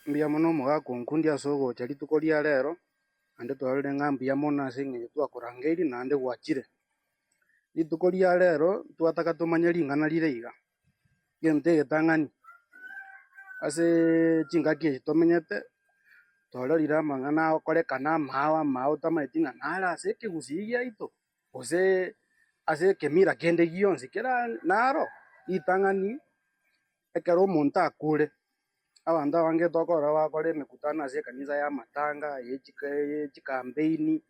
Mbuya mono omogaka onkundia ase ogocha rituko ria reero, naende twarorire ng'a mbuya mono ase eng'encho twakorangeirie naende gwachire. Rituko ria reero twataka tomanye ring'ana rire iga, egento egetang'ani ase chingaki echi tomenyete, twarorire amang'ana agokorekana amaao amaao otamaeti ng'a nare ase ekegusii giaito. gose ase ekemira kende gionsi kera naro ritang'ani ekero omonto akure, abanto abange tokorora bakore emekutano ase ekanisa y'amatanga, eye chika eye chikampeen,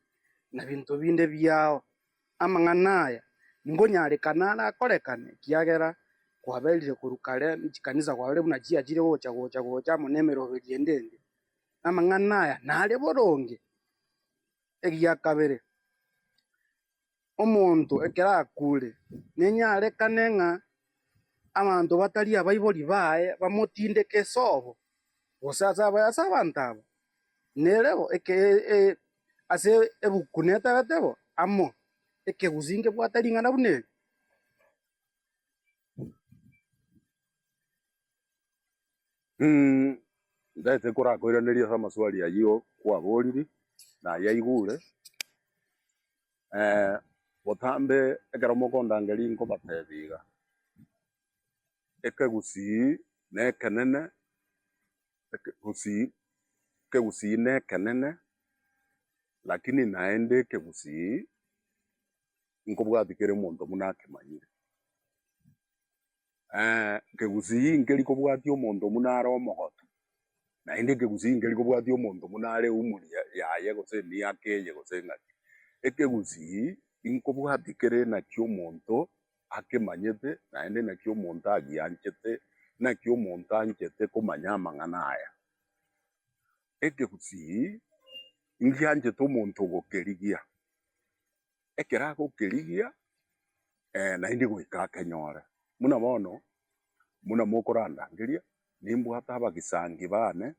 na binto binde biao. Amang'ana aya nkonyarekana arakorekane ekiagera kwaberire korwa kare na chikanisa kwarorire buna chiachire gocha gocha gocha amo na emeroberio ende ende. Amang'ana aya nare boronge. egia kabere, omonto ekero akuure, nenyarekane ng'a abanto batari abaibori baye bamotindeke ase obo, gose ase abae ase abanto aba, nere bo ase ebuku neterete bo amo ekegusi nkebwate ring'ana buna eri. Mmh, ndagete korakoiraneria ase amaswali ayio kwaboriri na ayio aigure. Eh, botambe ekero mokondangeria inkobatebi iga, ekegusii na ekenene, ekegusii, ekegusii na ekenene, lakini naende ekegusii nkobwatia kera omonto buna akemanyire. Ekegusii nkeri kobwatia omonto buna are omogotu, naende ekegusii nkeri kobwatia omonto buna are eumori yaye gose emiaka eye gose ng'aki. Ekegusii inkobwatia kere naki omonto akemanyete naende naki omonto agianchete, naki omonto anchete komanya amang'ana aya. Ekegusii ngianchete omonto ogokerigia. ekero agokerigia, eh, naende goika akenyore. Buna bono, buna mokorandangeria, nimbwate abagisangi baane,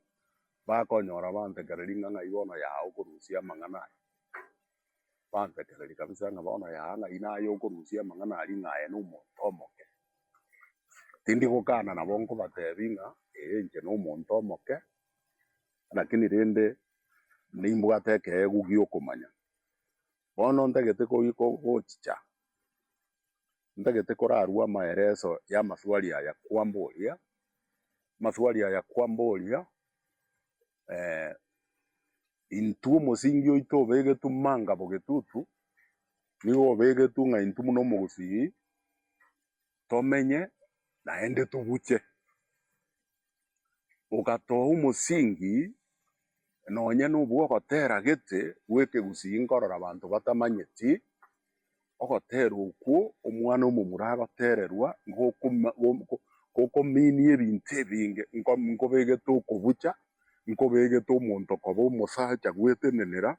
bakonyora bantekereria ng'a ng'ai bono yao okorusia amang'ana aya. Bantekereria kabisa ng'a bono yao ng'ai naye okorusia amang'ana aria ng'a aye nomonto omoke. Tindi gokana nabo nkobatebia ng'a ee inche nomonto omoke, lakini rende nimbwate ekeegwa gi'okomanya. Bono ntagete koyia gochicha, ntagete korarue amaereso y'amaswali aya kwamboria, amaswali aya kwamboria, intwe omosingi oito obegetwe mangabo getutu, nigo obegetwe ng'a intwe buna omogusii tomenye naende tobuche. ogatoa omosingi nonye nobw'ogotera gete bw'ekegusii nkorora abanto batamanyeti, ogotera okwo Omwana-o-momura agotererwa, ngokoma go gokominia ebinto ebinge, nko nkobegete okobucha, nkobegete omonto koba omosacha gwetenenera,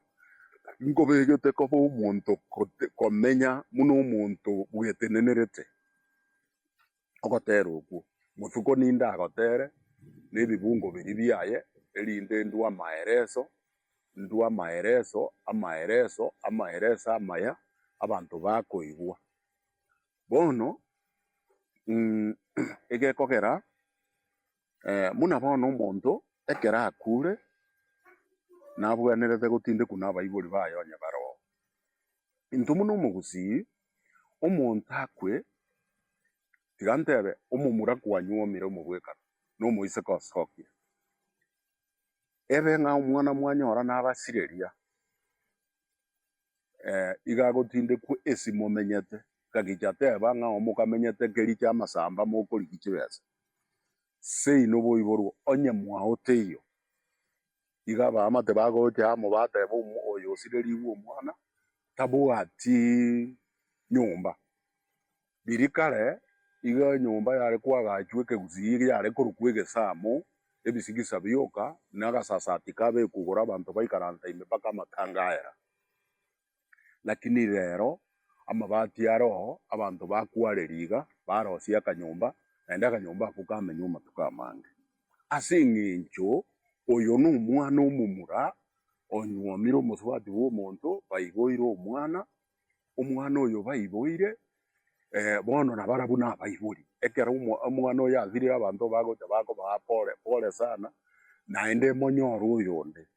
nkobegete koba omonto kote komenya buna omonto bwetenenerete. ogotera okwo, botuko ninde agotere nebibungo biria biaye, erinde ndue amaereso, ndue amaereso, amaereso, amaereso amaya, abanto bakoigwa. Bono egekogera, buna bono omonto ekero akure, nabwenerete gotindekwa nabaibori baye onye baroo, Intwe buna omogusii, omonto akwe, tiga ntebe, omomura kwanyu omire omobwekano, nomoiseke osokia. Ebe ng'a omwana mwanyora nabasireria, iga agotindekwa esi momenyete, ngachicha teba ng'a omokamenyete keri chia amasamba mokorigia chibesa, seino boiborwe onye mwaote iyo. Nigo abaamate bagocha amo bateeba omwa oyo osirerigwe omwana, Tabwati nyomba. Riria kare iga enyomba yare koagachwa ekegusii eria yare korokwa egesamo, ebisigisa bioka, na agasasati kabe kogora abanto baikaranta ime mpaka amatanga aera. Lakini rero amabati a roho abanto bakwareria iga barosie akanyomba, naende akanyomba ako kamenywa amatuko amange. Ase engencho oyo nomwana omomura onyuomire omosubati bw'omonto, baiboire omwana, omwana oyo baiboire, eh, bono nabarabwo nabaibori. Ekero omo- omwana oyo asirire abanto bagocha bakobaa pore pore sana, naende monyorwe oyonde.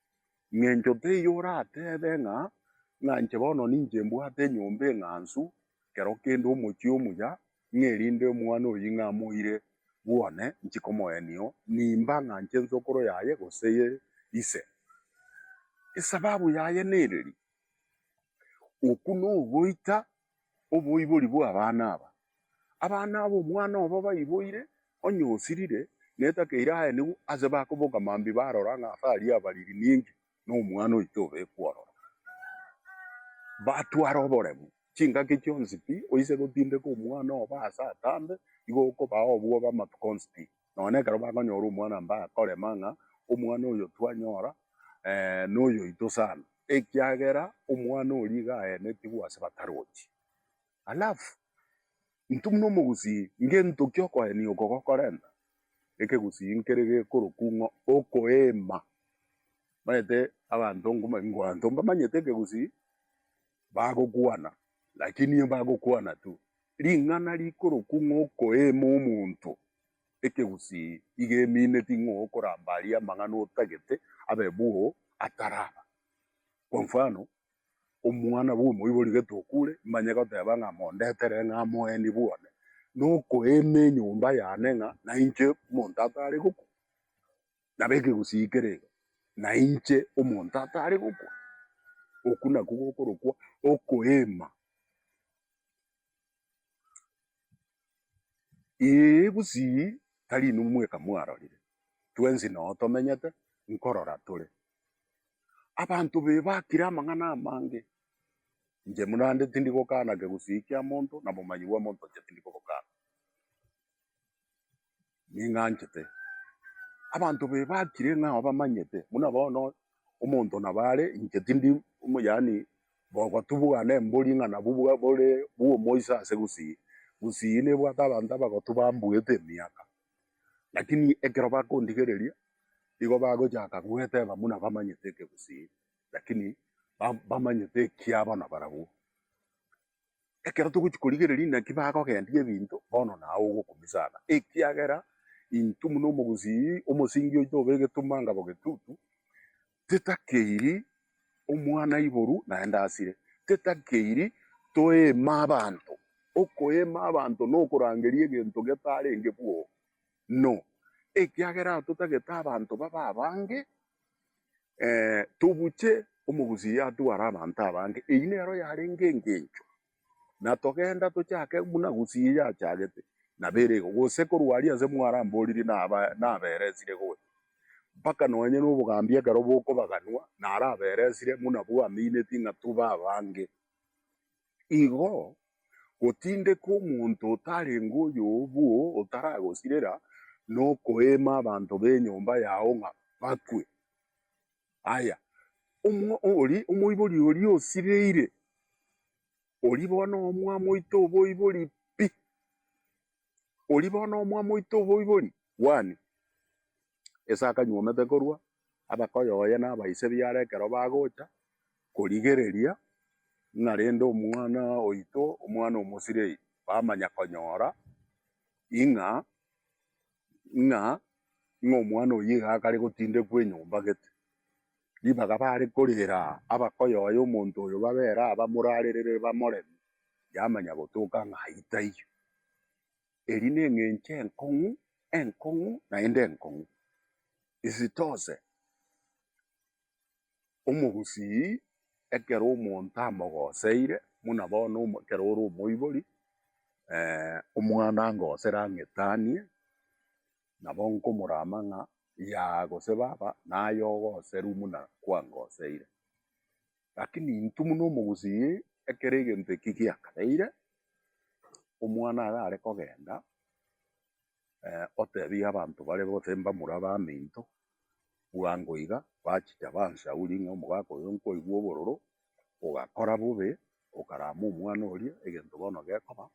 Ng'encho teiyo orateebe ng'a, Ng'anche bono ninche mbwate enyomba eng'ansu, kero kende omochie omuya, ng'a erinde omwana oyio ng'a amoire bwone, nchie komoenio, nimba ng'a nche ensokoro yaye gose ye ise. Esababu yaye nereria, Okwo nogoita oboibori bw'abana aba. Abana aba omwana obo baiboire, onye osirire, netakeire aye nigo ase bakoboka mambia barora ng'a ase aria abariri ninki nomwana oito obekwa ororo. Batwara oboremu, chingaki chionsi pi, oise gotindeka omwana obo aase atambe, igo okobaa obwoba amatuko onsi pi. Nonya ekero bakonyora omwana mbakorema ng'a omwana oyo twanyora noyoito sana, ekiagera omwana oria iga aenetigwe ase batarochi. Alafu intwe buna omogusii ngentoki okoenia oko gokorenta ekegusii nkere gekorokwa ng'a okoeema. Omanyete abanto nko- abanto mbamanyete ekegusii. bagokwana, lakini nigo bagokwana tu. Ring'ana rikorokwa ng'okoeema omonto ekegusii iga emineti ng'okoramba aria amang'ana otagete abe bwoo ataraba. Kwa mfano, omwana bw'omoibori gete okure, mbanye goteba ng'a mondetere ng'a amoeni bwane, nokoeema enyomba yane ng'a nainche omonto atare gokwa. nab'ekegusii keraiga, nainche omonto atare gokwa. Okwo nakwo gokorokwa okoeema. Ee, gusii tari inwe mweka mwarorire, twensi noo tomenyete nkorora tore. Abanto babe bakire amang'ana amange, inche buna naende tindi gokana kegusii kia monto, na obomanyi bwa monto inche tindi kobokana. ning'anchete. Abanto baye bakire ng'a obamanyete, buna bono omonto nabo are, inche tindi omo- yaani bogoti bwa nembori ng'a nabwo bwa- bore bwa omoisa ase gusii. Gusii nebwate abanto abagotu bambuete emiaka, lakini ekero bakondigereria, igo bagochaka goeteba buna bamanyete ekegusii, lakini ba- bamanyete ekiabo nabarabwo. Ekero togochia korigereria naki bagogendia ebinto, bono naye ogokomisana, ekiagera intwe buna omogusii omosingi oito obe egetunwa ngabo getutu, tetakeiri omwana aiboru naende asire, tetakeiri toeema abanto. Okoeema abanto nokorangeria egento getarenge bwoo, no, ekiagera totagete abanto babe abange, tobuche omogusii atware abanto abange, eyio nero yarenge engencho, na togenda tochake buna gusii eye achagete, nabo ere igo, gose korwa aria ase mwaramboririe naberesire gocha, mpaka nonye na obogambi ekero bokobaganwa naraberesire buna bwaminetie ng'a tobe abange. Igo gotindeka omonto otarenge oy'obwo otaragosirera, na okoeema abanto b'enyomba yao ng'a bakwe. Aye omoibori oria osireire, oria bono omwamoite oboibori pi! oria bono omwamo oito oboibori bwane, ase akanyuomete korwa abe koyoyia nabaise biare ekero bagocha korigereria ng'a rende omwana oito, omwana omosibei bamanya konyora ing'a ing'a ing'a omwana oyio iga akare gotindekwa enyomba gete. ribaga bare korera abakoyoe omonto oyo babere abamorarerere bamoreme, yamanya gotoka ng'a ayio taiyo. Eria neng'encho enkong'u, enkong'u, naende enkong'u. Isitose, omogusii ekero omonto amogoseire, buna bono omo ekero ore omoibori, omwana angosere ang'etanie. nabo nkomorama ng'a Yaa gose Baba, naye ogoseru buna kwangoseire. Lakini intwe buna omogusii, ekero egento eki giakabeire, Omwana aye are kogenda, otebie abanto bare gose mbamura baminto, bwango iga, bachicha bansaurie ng'a omogaka oyo nkoigwa obororo, ogakora bobe, okarama omwana oria, egento bono gekoba,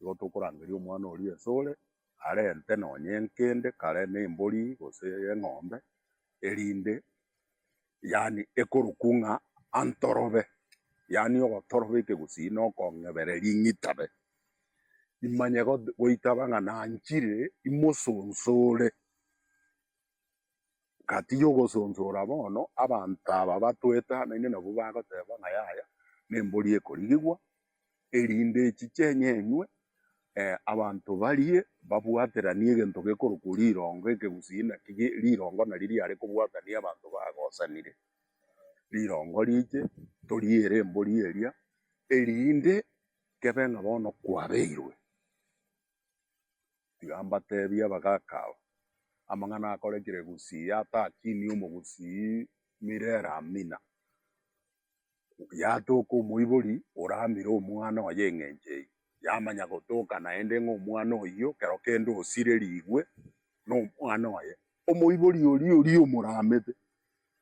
Igo tokorangeria omwana oria esore, arente nonya enkende kare na embori gose eng'ombe, erinde yaani ekorokwa ng'a antorobe, yaani ogotoroba ekegusii na okong'ebera eria ing'itabe. Imanye goitaba ng'a nanchire imosonsore. Gatiga ogosonsora bono, abanto aba batwetanaine nabwo bagoteba ng'a yaya nembori ekorigigwa, erinde echiche enyenywe, abanto barie, babwateranie egento gekorokwa rirongo ekegusii naki rirongo nario riare kobwatania abanto bagosanire. Rirongo riche toriere embori eria, erinde kebe ng'a bono kwabeirwe. Tiga mbatebie abagaka aba, amang'ana akorekire Gusii atakinie omogusii Mirera Amina, yatoka omoibori oramire omwana oye eng'encho eyio, yamanya gotoka naende ng'a omwana oyio kero kende osirerigwe nomwana oye. Omoibori oria oria omoramete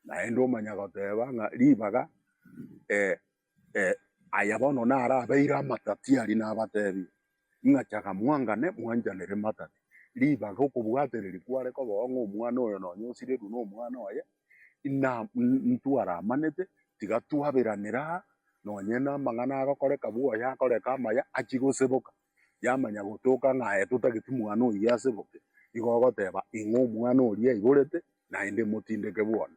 naende omanya goteba ng'a ribaga eh. Aya bono narabeire amatatiari, nabatebie, ng'a chaka mwangane, mwanyanere matati. Ribaga okobwatereri kware kobao ng'a omwana oyo nonye osirirwe nomwana oye, ina ntwaramanete, tiga twaberanera aa, nonye namang'ana agokoreka bwa oyo akoreka amaya, achie goseboka, yamanya gotoka ng'a aye totageti mwana oyio aseboke, igo ogoteba, ing'o omwana oria aiborete, naende imotindeke bono.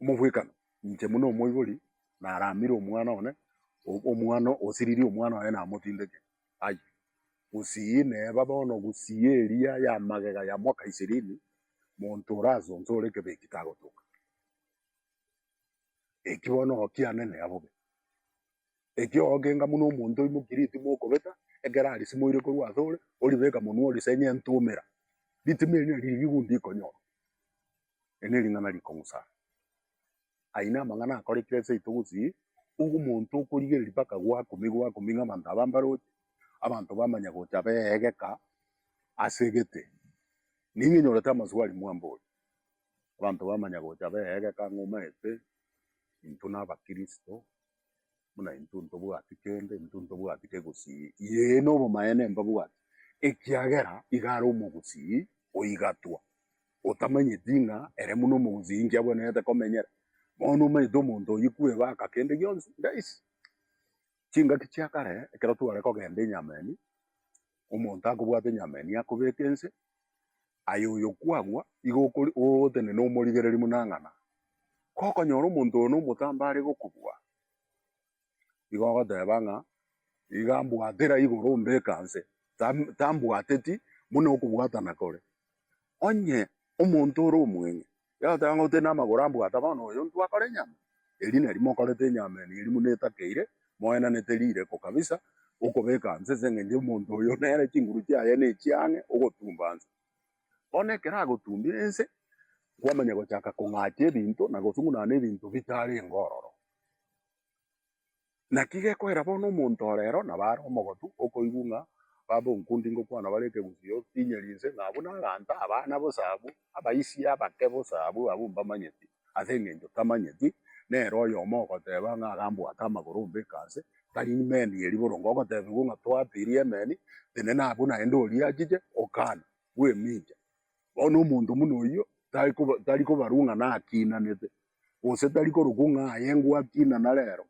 omobwekano, inche buna omoibori naramire omwana one, omwana osiriri omwana oye namotindeke ai. Gusii neba bono gusii eria ya magega ya mwaka ishirini, monto ore ase inche ore ekebeki tagotoka. Eki bono oo kianene abo be. Eki oo kenga buna omonto oimoki ritima okobeta, ekero arisimo oire korwa asore, oribeka monwe orisenye entumera, ritima eri nari riria obundi rikonyora. Eri nering'ana rikong'usana. Ayio namang'ana akorekire aseito gosii ogo omonto okorigereria mpaka gwakumia gwakumia ng'a abanto aba mbaroche, abanto bamanya gocha beegeka ase egete. Nigo enyorete amaswali mwamba oyo. Abanto bamanya gocha beegeka ng'a omanyete intwe nabakristo. buna intwe ntobwati kende, intwe ntobwati kegosii, yee, nobomaene mbabwati, ekiagera iga are omogosii oigatwa, otamanyeti ng'a ere buna omogosii inki abwenerete komenyera. Bono omanyete omonto oyio kwebaka kende gionsi? Guys, chingaki chia kare ekero tware kogenda enyameni. omonto akobwata enyama eye nigo akobeka ense, aye oyo kwagwa, igo okori- ogotenena omorigereria buna ng'a na. Gokonyora omonto oyo nomotambe are gokobua, igo ogoteba ng'a iga mbwatera igoro ombeka nse, tam- tambwateti buna okobwatana kore. Onye omonto ore omweng'e yagoteba ng'a otere namagoro ambwata, bono oyo intwe akore enyama? Erio nari mokorete enyama ene eria buna etakeire, moenanete rireko kabisa, okobeka nse ase engencho y'omonto oyo nere chinguru chiaye nechie ang'e ogotumba nse. Bono ekero agotumbire nse, nkwamanya gochaka kong'acha ebinto na gosung'unana ebinto bitarenge ororo. Naki gekoira bono omonto ore ero na bare omogotu okoigwa ng'a baba onkundi ngokwana bare ekegusii otinyeri inse, ng'a abwo naganta, abana bosa abwo, abaisia abake bosa abwo, abwo mbamanyeti, ase engencho tamanyeti, nere oyomo ogoteba ng'a agambwata amagoro ombeke aase, tari meni ye riborongo ogotebigwa ng'a twatirie emeni, tenena abwo naende oriachiche, okana, bwemincha. Bono omonto buna oyio tari koba tari kobarwa ng'a nakinanete, gose tari korokwo ng'a aye ngwakina na rero.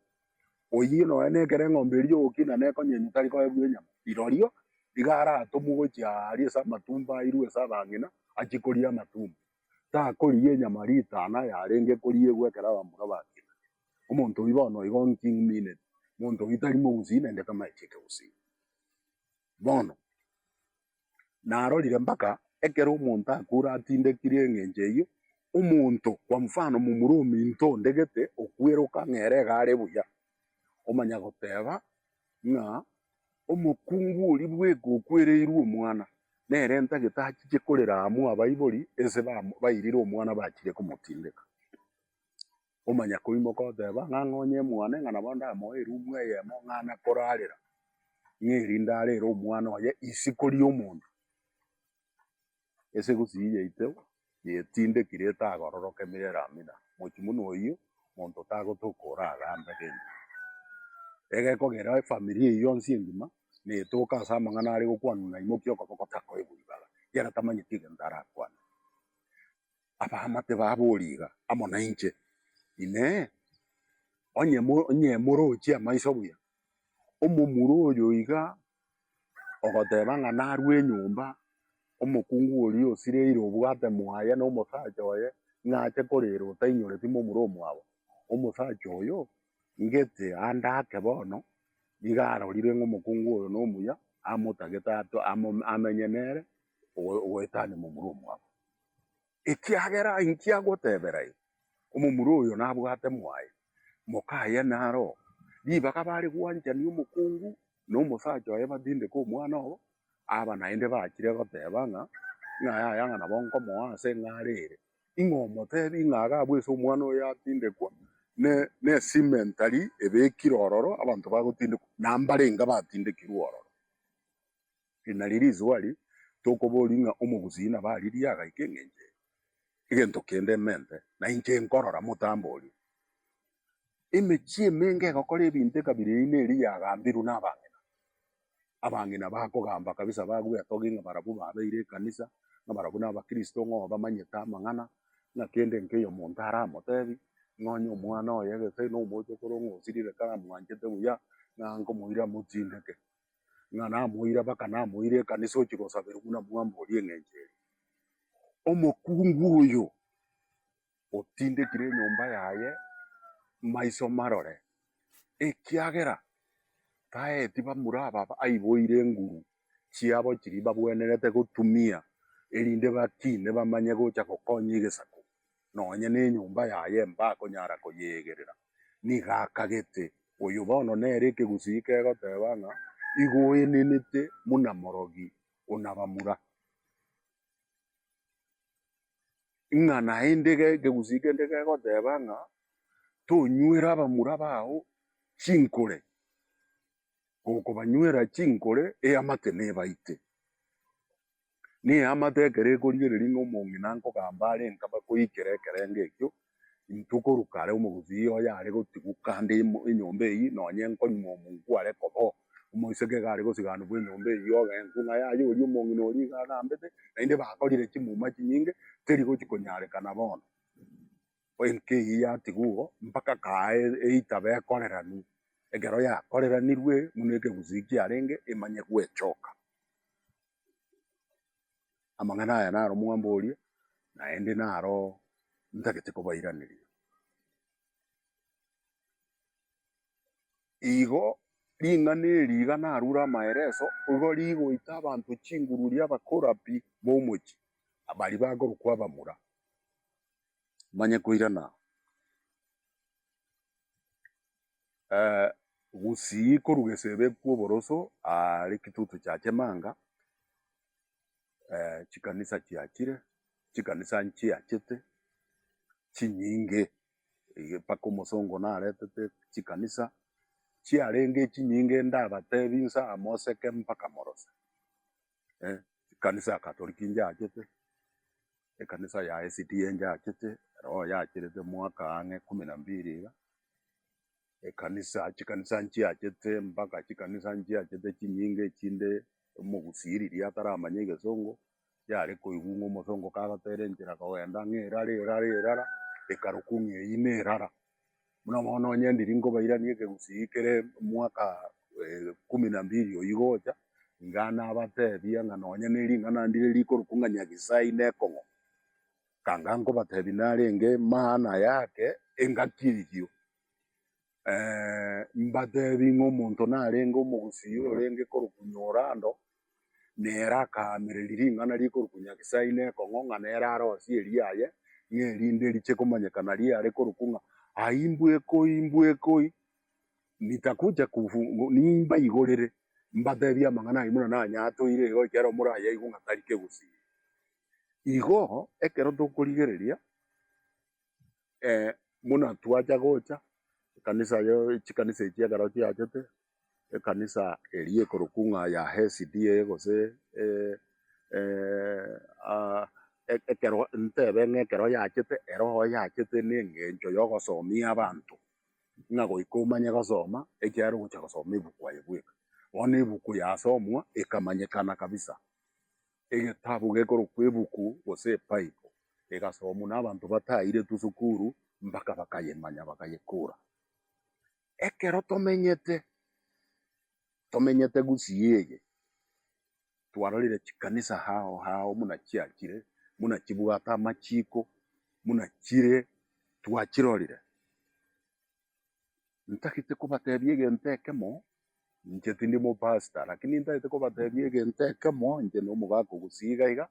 Oyio nonya nekero eng'ombe eria ogokina nekonyenywa tari koegwa enyama, rirorio iga aratomwe gochia aa aria ase amatumbo airwe ase abang'ina achie koria amatumbo. Takorigia enyama ritana yarenge koriegwa ekero abamura bakina. Omonto oyio bono igo inki nmineti? Omonto oyio tari mogusii naende tamanyeti ekegusii. Bono. narorire mpaka ekero omonto akure atindekiri engencho eyio, omonto kwa mfano momura ominto ondegete okweroka ng'a ere iga are buya, omanya goteba ng'a omokungu oria bweka okwereirwe omwana, nere entagete achiche korera amo abaibori, ense bairire omwana bachire komotindeka. Omanya koimoka oteba, ng'a ng'onye mwane, ng'a nabo ndamoe erumu eyemo, ng'a nakorarera, ng'a erinde arere omwana oye isiko ri'omonto. Esegusii yaito yetindekire etagororoka emerero amina, mochie buna oyio monto tagotoka oragambe rende. Egekogera efamiri eyio yonsi engima netoke ase amang'ana are gokwanwa na imokia okoboko takoigwa ribaga, ekiagera tamanyeti egento arakwane. abaamate babori iga amo nainche, Inee! Onye onye morochie amaiso buya, omomura oyo iga ogoteba ng'a narue enyomba, omokungu oria osireire obwate mwaye na omosacha oye, ng'a ache korera otainyoreti momura omwabo? Omosacha oyo ngete ande ake bono, nigo arorire ng'a omokungu oyo nomuya, amotagete ato amo amenye nere, ogo ogoetania momura omwabo. Ekiagera inki agotebera igo? Omomura oyo nabwate mwaye, mokaye naro ribaga bare gwanchania omokungu na omosacha oye batindeke omwana obo, aba naende bachire goteba ng'a yaya ng'a nabo nkomoa ase ng'a are ere. Ing'o omotebi ng'a iga abwo ase omwana oyo atindekwa ne ne cimentary ebekire ororo abanto bagotindekwa na mbarenge batindekirwe ororo. Eri nario rithuba riria tokoboria ng'a omogusii nabo aririe agaika engencho eye. Egento kende mente, na inche nkorora motambo oria. Emechie emenge egokora ebinto ekabira eye neri yagambirwe nabang'ina. Abang'ina bakogamba kabisa bagwetogia ng'a barabwo babeire ekanisa, ng'a barabwo nabakristo ng'a obamanyete amang'ana, ng'a kende nkei omonto aramotebi, ng'a onye omwana oye gese nomochokoro ng'a osirire karamwanchete buya, ng'a nkomoira amotindeke. ng'a namoire abaka namoire ekanisa ochia gosaberwa buna mwambori eng'encho eye. Omokungu oyo otindekire enyomba yaye maiso marore, ekiagera taeti bamura aba aiboire enguru chiabo chiria babwenerete gotumia, erinde batine bamanye gocha gokonya egesaku nonya nenyomba yaye mbakonyara koyeegerera. Nigo akagete, Oyo bono nere ekegusii kegoteba ng'a, Igo oenenete buna morogi onabamura. Ng'a naende ekegusii kende kegoteba ng'a, Tonywere abamura bao chinkore, gokobanywera chinkore eamate nebaite. Neamate ekero ekorigereria ng'a omong'ina nkogamba are nkaba koikera ekerengo ekio, intwe koruka are omogusii oye are gotigwa kande ime enyomba eyio, nonye nkonyuma omonku are koba oo, omoiseke iga are gosiganigwa enyomba eyio ogenku, ng'a yaya oria omong'ina oria iga agambete, naende bakorire chimuma chinyinge, teri gochi konyarekana bono. enka eyio yatigwa oo, mpaka kaaa eitaba ekoreranwe. Ekero yakoreranirwe buna ekegusii kiarenge emanye gwechoka. Amang'ana aya naro mwamboria, naende naro ntagete kobairaneria. Igo, ring'ana eri iga narure amaereso, igo rigoita abanto chinguru ria abakorabi b'omochie, baria bakorokwa abamura. manye koirana, eh, gusii koruga esebe kw'oboroso aare kitutu chia chemanga, eh, chikanisa chiachire, chikanisa nchiachete chinyinge ege mpaka omosongo naretete chikanisa chiarenge chinyinge ndabatebi nsa moseke mpaka morose. eh, ekanisa ya Katoliki njaachete, ekanisa ya SDA njaachete, erogo yacherete mwaka ang'e kumi na mbiri iga, ekanisa chikanisa nchiachete mpaka chikanisa nchiachete chinyinge echinde omogusiriri ataramanya egesongo, yare koigwa ng'a omosongo kagotera enchera kogenda ng'a erara erara erara, ekarokwa ng'a eyio nerara. Buna bono onye ndiri nkobairania ekegusii kere mwaka ikumu na mbiri oyio igocha, iga nabateebia ng'a nonye ne ring'ana ndire rikorokwa ng'a Nyagisai nekong'o. Kanga nkobateebia narenge maana yake engaki eyio. Mbateebie ng'a omonto narenge omogusii orenge korokwa Nyolando, Nere akaamereri ring'ana rikorokwa Nyagesai na ekong'o ng'a nere arosie eriaye, ng'a erinde riche komanyeka nario yare korokwa ng'a Aimbwekoi, Mbwekoi, nitakuja kufu, nimbaigorere, mbatebie amang'ana aye buna nanyatoire igo ekero morayaigwe ng'a tari kegusii. Igo ekero tokorigereria. eh, buna twacha gocha, ekanisa yo chikanisa echi ekero chiachete, ekanisa eria ekorokwa ng'a ya SDA gose eh, eh, ah, e- ekero ntebe ng'a ekero yachete eroho yachete na engencho ya ogosomia abanto, ng'a goika omanye gosoma, ekiagera ogocha gosoma ebuku aye bweka. Bono ebuku yasomwa, ekamanyekana kabisa. Egetabu gekorokwa ebuku gose ebaibo egasomwa nabanto batairetwe sukuru mpaka bakayemanya bakayekura. Ekero tomenyete, tomenyete gusii eye, twarorire chikanisa hao hao muna chiachire, muna chibwate amachiko, muna chire twachirorire. Ntagete kobatebia egento ekemo, inche tindi omopastor, lakini ntagete kobatebia egento ekemo, inche nomogaka ogosii iga iga,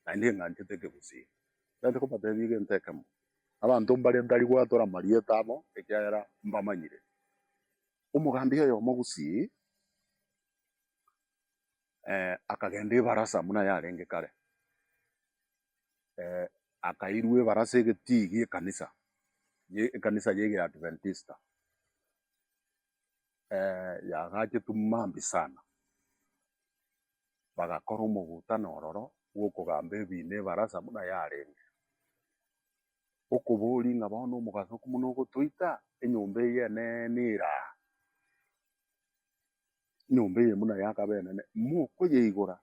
naende ng'anchete ekegusii. Ntagete kobatebia egento ekemo, abanto mbare ntari gwatora amarieta abo, ekiagera mbamanyire. Omogambi oyomo gusii akagenda ebarasa buna yarenge kare. akairwa ebara ase egetii gi'ekanisa, ekanisa ye Adventista, yagachetu maambi sana, bagakora omogutano ororo bw'okogamba ebiina ebarasa buna yarenge, okoboria ng'a bono omogaso okomono ogotoita enyomba eyio enene ere aa? enyomba eye buna yakabenene, mokoyeigora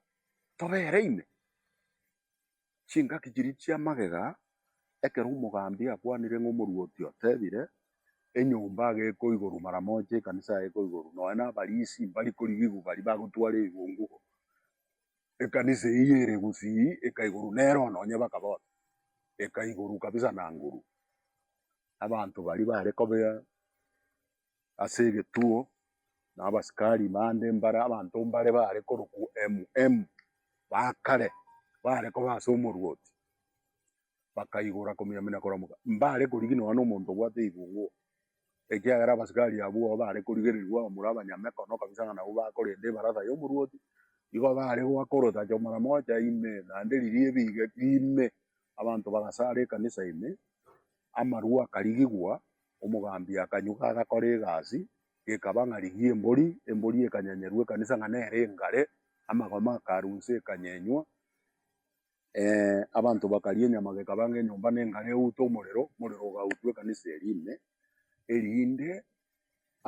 tobere ime? Chingaki chiria chia magega, ekero omogambi akwanire ng'a omorwoti otebire, enyomba iga ekoigorwa mara moja, ekanisa yaye ekoigorwa, nonya na abarisi mbari korigigwa baria bagotwara ebigongo igo, ekanisa eyio ere gusii ekaigorwa nere one onye bakaba one, ekaigorwa kabisa na nguru. Abanto baria bare kobea ase egetuo, na abasikari bande mbare abanto mbare baare korokwa MM, ba kare, baare koba ase omorwoti, bakaigora komiamina koramoka, mbare korigi nonya nomonto obwate eibungo, ekiagera abasikari abwo abwo baare korigereria abamura abanyamekono kabisa ng'a nabwo bakorenta ebarasa y'omorwoti, igo baare goaka orotacho mara mocha ime, naende riria ebiga ime, abanto bagasara ekanisa ime, amarwa akarigigwa, Omogambi akanyuga agakora egasi, gekaba ng'a rigiya embori, embori ekanyenyeru ekanisa ng'a nere engare, amagoma akarunswa ekanyenywa, abanto bakaria enyama gekaba ng'a enyomba nengare eutwe omorero, omorero ogautwa ekanisa eria ime, erinde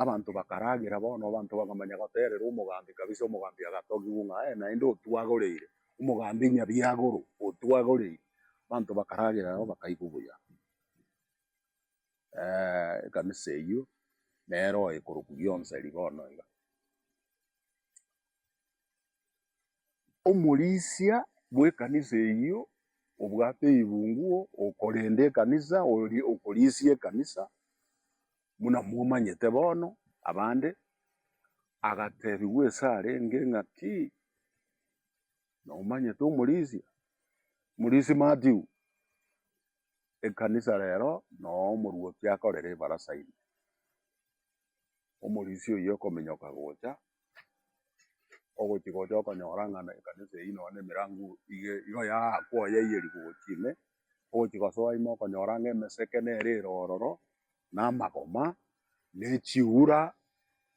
abanto bakaragera bono abanto bakamanya goterera omogambi kabisa, omogambi agatogigwa ng'a aye naende otwagoreire, omogambi nyabiagore otwagoreire, abanto bakaragera nabo bakaigwa buya. ekanisa eyio, nere oye korokwa bionsi aria bono iga. Omorisia bw'ekanisa eyio obwate eyigunguo, okorenda ekanisa, oria okorisia ekanisa, buna momanyete bono abande, agatebiwa ase arenge ng'a ki, nomanyete omorisia? Omorisia Mathew, ekanisa rero noo omorwoti akorere ebarasa ime. Omorisia oyio okominyoka gocha, ogochi gocha okonyora ng'a na ekanisa eyio nonye na emerango iga igo yaakwa oye eyerigoti ime, ogochi gosoa ime okonyora ng'a emeseke nere ere ororo, na amagoma, na echiura,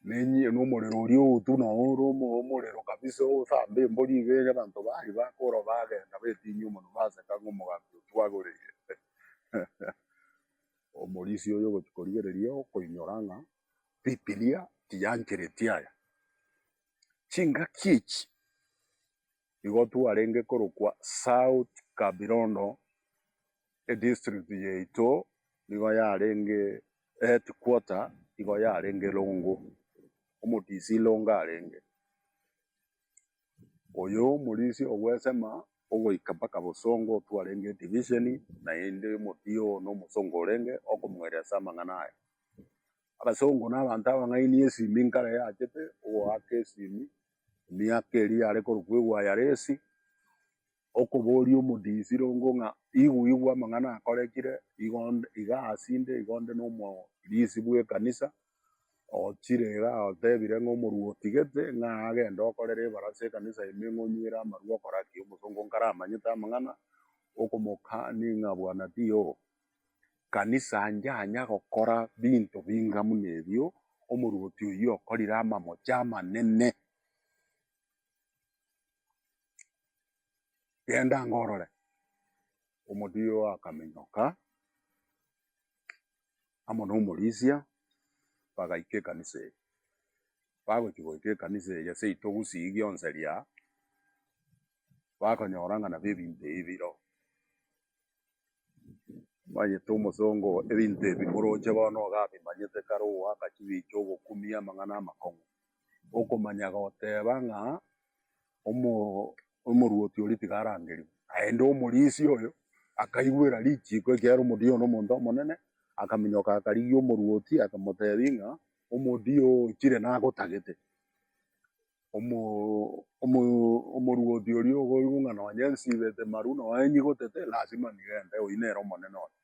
na enyi- na omorero oria ogotu na ore omo- omorero kabisa osamba embori iga ere abanto baria bakoro bagenda betinyia omonwa baseka ng'a omogambi oyo twagoreire. Omorisia oyo ogochia korigereria okoinyora ng'a bibilia tiyanchereti aya. Chingaki echi igo twarenge korokwa South Kabirondo. edistrict yaito nigo yarenge eheadquarter nigo yarenge Rongo, omorisia Rongo arenge. Oyo omorisia ogwesema ogoika mpaka Bosongo otwo arenge edivision naende omotiye oo na omosongo orenge okomoeria ase amang'ana aye. Abasongo na abanto abang'aini esimi nkare yachete ogoaka esimi emiaka eria yare korokwa egwa ya resi. Okoboria omodisiru ngo ng'a igwe igwe amang'ana akorekire igo nde iga ase inde igo nde nomorisi bw'ekanisa ochire iga otebire ng'a omorua otigete ng'a agende okorere ebarasa ekanisa ime ng'a onywere amarua okora ki? Omosongo nkaramanyete amang'ana okomoka ni ng'a bwana tiyo kanisa njanya gokora binto binga muna ebio omoruoti oyio okorire amamocha amanene. Genda ango orore. Omodia oo akamenyoka amo nomorisia, bagaika ekanisa eye. Bagochia goika ekanisa eye seito gusii gionsi ria, bakonyora ng'a nabo ebinto ebi bire oo. Omanyete omosongo oo ebinto ebi moroche bono ogabimanyete kare ogoaka chibicha ogokumia amang'ana amakong'u. Okomanya goteba ng'a omo omoruoti oria tiga arangerigwe naende omorisia oyo akaigwera richiiko ekiagera omodia oyo nomonto omonene akaminyoka akarigia omoruoti akamotebi ng'a omodia oo chire nagotagete. Omoruoti oria okoigwa ng'a nonya nsibete maru nonya enyigotete lasima nigo ende oyio nere omonene one.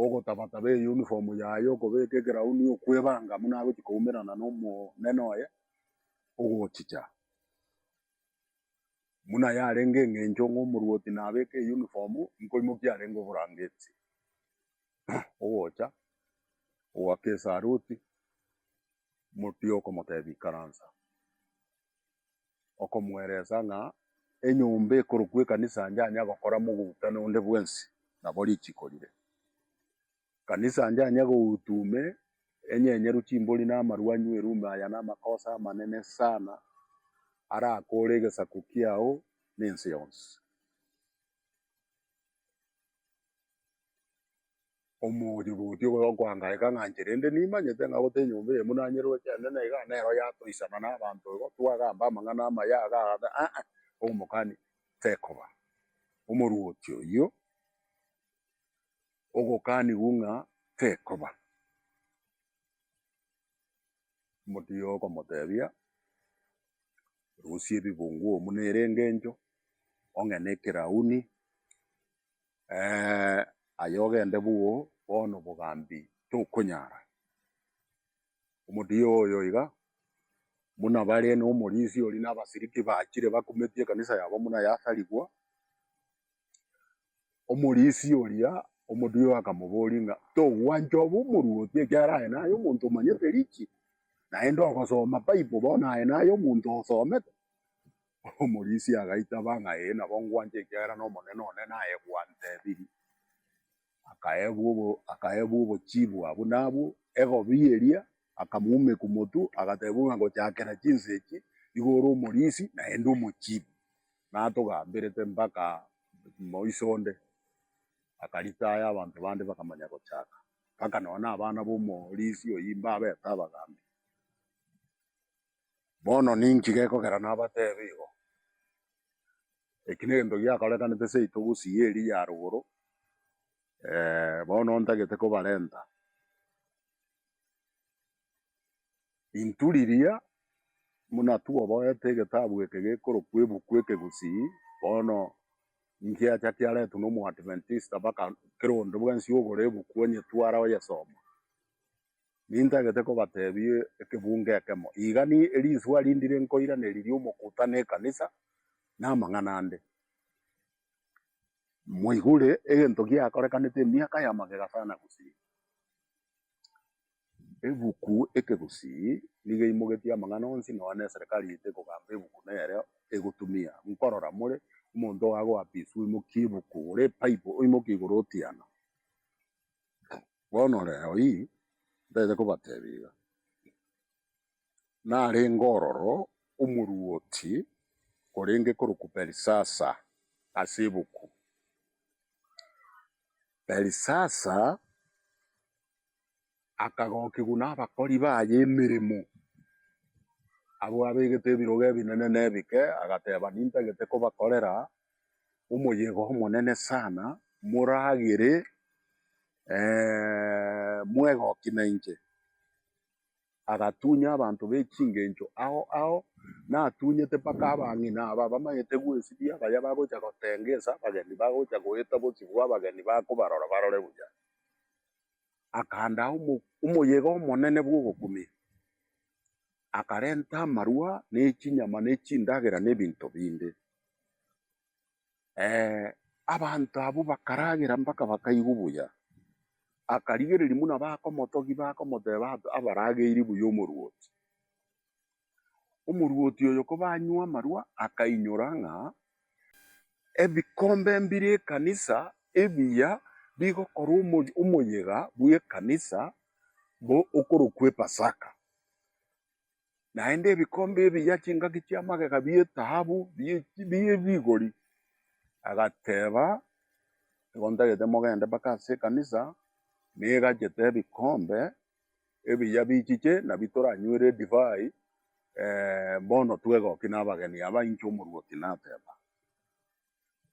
Ogotabataba eyunifomu yaye okobeka ekerauni okwebanga buna agochia koumerana na omonene oye ogochicha. Buna yarenge eng'encho ng'a omoruoti nabeke eyunifomu nkoimokia arenge oborangeti ogocha ogoaka esaruti. motiga okomotebia ikaransa, okomweresa ng'a enyomba ekorokwa ekanisa anja anye agokora mogutano onde bwensi nabo richiko rire. Kanisa anja anye goutu ime enyenyeru chimbori na amarwa anywe erume aya namakosa amanene sana arakore egesaku kiao na ense yonsi. Omogochi bwoti obo okoanga ekang'anche, rende nimanyete ng'a gotee nyomba eye buna anyeroe ekeene na iga nero yatoisana nabanto igo twagamba amang'ana amaya aga agateba, Aa-a, omokani tekoba omoruoti oyio ogokanigwa ng'a tekoba. Omotiyi okomotebia, Rusia ebibungo omu nere engencho, ong'e nekerauni. Ee, aye ogende boo, bono obogambi tokonyara. Omotiyo oyo iga, buna bare nomorisi oria na abasiriki bachire bakumetie ekanisa yabo buna yasarigwa, omorisi oria omotiyo akamoboria ng'a togwancha obe omoruoti ekiagera aye naye omonto omanyete richi, naende ogosoma Bible bono aye naye omonto osomete. Omorisia agaitaba ng'a Ee, nabo ngwanche, ekiagera n'Omonene one naye gwantebirie. Akaebwa obo, akaebwa obochibwa buna abwo, egobi eria, akamoumekwa motu, agatebiwa ng'a Gochakera chinsa echi, nigo ore omorisi, naende omochibi, natogamberete mpaka moiso onde. Akaritaya, abanto bande bakamanya gochaka, mpaka nonya na abana b'omorisia oyio mbabete abagambi. Bono ninki gekogera nabateebe igo? Eki negento giakorekanete seito gusii y'eria ya rogoro, bono ntagete kobarenta intu riria buna twoboete egetabu eke gekorokwa ebuku eke gusii, bono nkiacha kiaretwa na omoadventista baka kera onde bwensi ogore ebuku onyetware oyesoma. Nintagete kobatebia ekebuungo ekemo, Igani erinswe aria ndire nkoiraneria ri'omokutano ekanisa, namang'ana ande. Moigure egento giakorekanete emiaka ya magega sana gusii. Ebuku eke gusii nigo eimogetie amang'ana onsi nonya na eserekari yaito ekogamba ebuku nere egotumia. Nkorora more, omonto oye agoapiswa oimokie ebuku, ore ebible oimokie igoro otiana. Bono reo ii ntaete kobatebia iga, narenge ororo omoruoti orenge korokwa Belisasa ase ebuku. Belisasa akagokigwa nabakori baye emeremo, abwo abegete ebirogo ebinene na ebike, agateba nintagete kobakorera omoyega omonene sana, moragere mwegoki nainche. Agatunya abanto b'echingencho ao ao, natunyete mpaka abang'ina aba bamanyete gwesibia, baria bagocha gotengesa abageni, bagocha goeta obosibwa bwa abageni bakobarora barore buya. Akandaa omoyega omonene bw'ogokumia. akarenta amarwa, na echinyama, na echindagera, na ebinto binde. Eh, abanto abwo bakaragera mpaka bakaigwa obuya. Akarigereria buna bakomotogia, bakomoteba, Aba- abarageiri buya omoruoti. Omoruoti oyo kobanywa amarwa, akainyora ng'a ebikombe mbire ekanisa ebiya bigokorwa omo- omoyega bw'ekanisa bo- okorokwa Epasaka. naende ebikombe ebiya chingaki chi'amagega bi'etaabu, bi'ebigori. Agateba, Igo ntagete mogende mpaka ase ekanisa, negachete ebikombe ebiya bichiche, nabio toranywere edivai, bono twegokia nabageni aba, inche omorwoti nateba.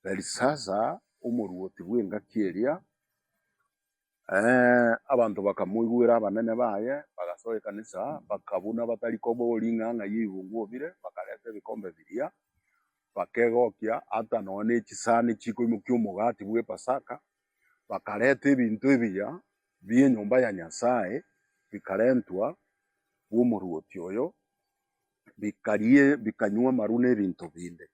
Belisasa, omorwoti bw'engaki eria. Ee, abanto bakamoigwera abanene baye, bagasoa ekanisa, bakabuna abatari koba o ring'ang'a y'eibungo obire, bakareta ebikombe biria, bakegokia ata nonya nechisani chikoimokia omogati bw'Epasaka, bakareta ebinto ebiya bi'enyomba ya Nyasae, bikarentwa bw'omoruoti oyo, bikaria, bikanywa amaru na ebinto binde.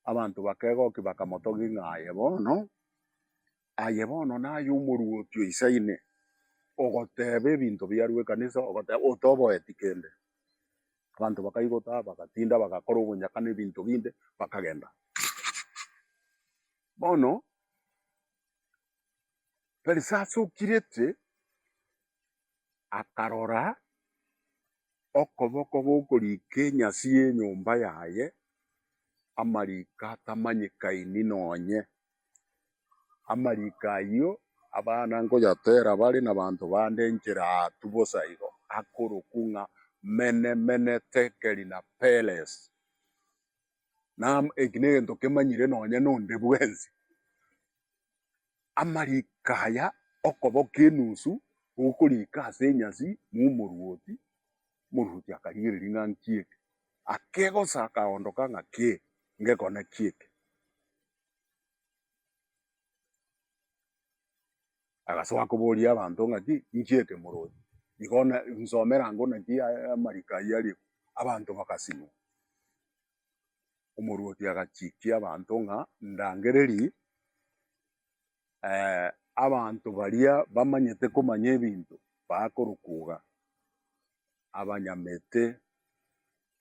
Abanto bakegokia bakamotogia ng'a aye bono, aye bono naye omoruoti o Isaine, ogoteeba ebinto biarue ekanisa, ogoteeba otoboeti kende. Abanto bakaigota, bagatinda, bagakora obonyaka na ebinto binde, bakagenda. Bono, Felisa asokirete. akarora okoboko gokorika enyasi y'enyomba yaye, amariko atamanyekaini nonye. Amariko ayio abana ngoyatera bare nabanto bande enchera aatu bosa igo, akorokwa ng'a Mene, Mene, Tekeli na Peresi. Eki negento kemanyire nonye nonde bwensi. amariiko aya okoboka enusu gokoriika ase enyasi momorwoti, omorwoti akarigereria ng'a nkieke, akegosa akaondoka ng'a ki ngekone kieke. Agasoa koboria abanto ng'a ki nkieke morwoti, igo na nsomera ango naki amariko ayio ariko, abanto bagasimwa. omorwoti agachikia abanto ng'a ndangereri eh, abanto baria bamanyete komanya ebinto bakorokuga abanyamete,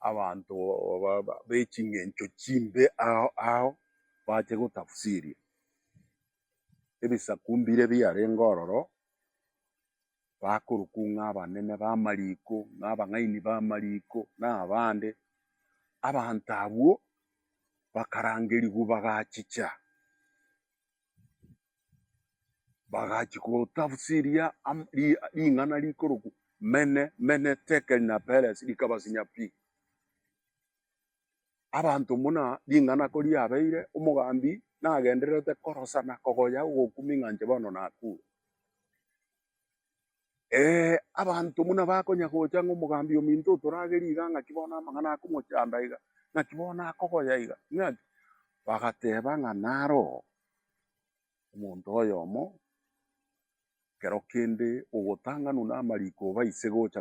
abanto ba- ba- b'echingencho chimbe ao ao bache gotafsiria ebisaku mbire biarenge ororo bakorokwa ng'a abanene b'amariko, ng'a abang'aini b'amariko, na abande, abanto abwo bakarangerigwa bagachicha, bagachia gotafsiria am- ri- ring'ana rikorokwa Mene, Mene, Tekeli, na Peresi, rikabasinya pi. abanto buna ring'ana ko riabeire, omogambi nagendererete korosa na kogoya ogokumi ng'a inche bono nakure. Ee, abanto buna bakonya gocha ng'a omogambi ominto otoragerie iga ng'aki bono amang'ana akomochanda iga, ng'aki bono akogoya iga, ng'aki? Bagateba ng'a nare oo omonto oyomo kero kende ogotang'anwa namariko obaise gocha.